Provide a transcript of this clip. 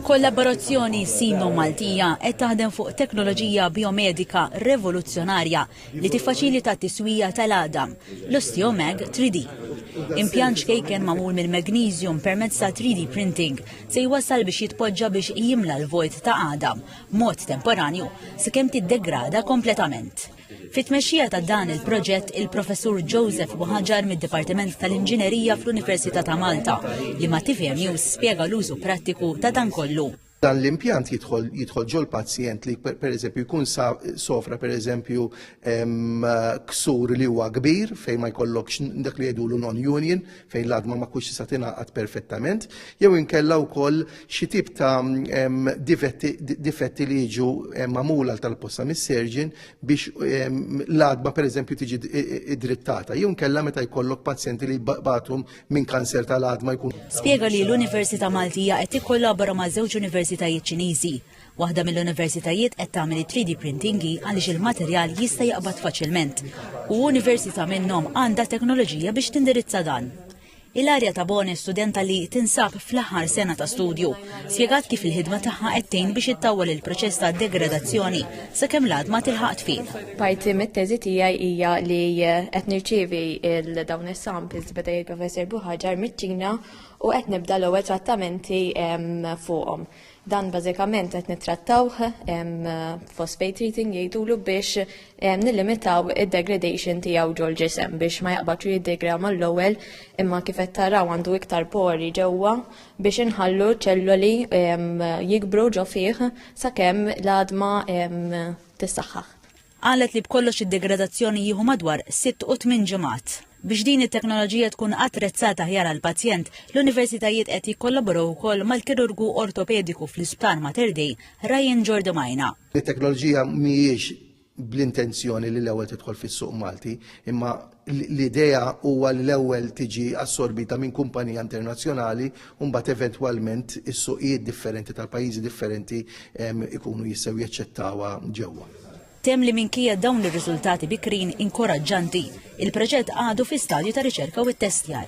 Kollaborazzjoni Sino-Maltija qed taħdem fuq teknoloġija bijomedika revoluzzjonarja li tiffaċilita t-tiswija tal-għadam, l-Osteomag 3D. Impjant ċkejken magħmul mill-magneżjum permezz ta' 3D printing se jwassal biex jitpoġġa biex jimla l-vojt ta' għadam b'mod temporanju sakemm tiddegrada kompletament. Fit-tmexxija ta' dan il-proġett il-Professur Joseph Buħaġar mid-Dipartiment tal-Inġinerija fl-Università ta' Malta li ma' tvm News spjega l-użu prattiku ta' dan kollu. Dan l-impjant jidħol jidħol ġol pazjent li pereżempju jkun sofra pereżempju ksur li huwa kbir fejn ma jkollokx dak li jgħidulu non-union fejn l-adma ma kux tista' tingħaqad perfettament, jew inkella wkoll xi tip ta' difetti li jiġu magħmul għal tal-posta mis-serġin biex l-adma pereżempju tiġi drittata, jew inkella meta jkollok pazjenti li jbagħtu minn kanser tal-adma jkun. Spjega li l-Università Maltija qed tikkollabora ma' żewġ universitajiet Ċiniżi Waħda mill-universitajiet qed tagħmel it-3D printing hi għaliex il-materjal jista' jaqbad faċilment u università minnhom għandha teknoloġija biex tindirizza dan. Ilaria Tabone, studenta li tinsab fl-aħħar sena ta' studju, spjegat kif il-ħidma tagħha qed tgħin biex ittawwal il-proċess ta' degradazzjoni sakemm l-għadma tilħaq tfil. Parti mit-teżi tiegħi hija li eh, qed nirċievi il dawn is-samples beda il-Professor Buħaġar miċ-Ċina u qed nibda l-ewwel trattamenti fuqhom. Dan bażikament qed nittrattawh phosphate treating jgħidulu biex nillimitaw id-degradation tiegħu ġol ġisem biex ma jaqbadx jiddegra mal-ewwel imma kif qed taraw għandu iktar pori ġewwa biex inħallu ċelloli jikbru ġo fih sakemm l-għadma tissaħħaħ. Qalet li b'kollox id-degradazzjoni jieħu madwar sitt u tmien ġimgħat. Biex din it-teknoloġija tkun attrezzata aħjar għall-pazjent, l-Universitajiet qed jikkollaboraw ukoll mal-kirurgu ortopediku fl-Isptar Mater Dei, Ryan Jordi Maina. It-teknoloġija mhijiex bl-intenzjoni li l-ewwel tidħol fis-suq Malti, imma L-idea huwa li l-ewwel tiġi assorbita minn kumpanija internazzjonali u mbagħad eventwalment is-suqijiet differenti tal-pajjiżi differenti jkunu jistgħu jaċċettawha ġewwa. Temm li minkejja dawn ir-riżultati bikrin inkoraġġanti, il-proġett għadu fi stadju ta' riċerka u ttestjar.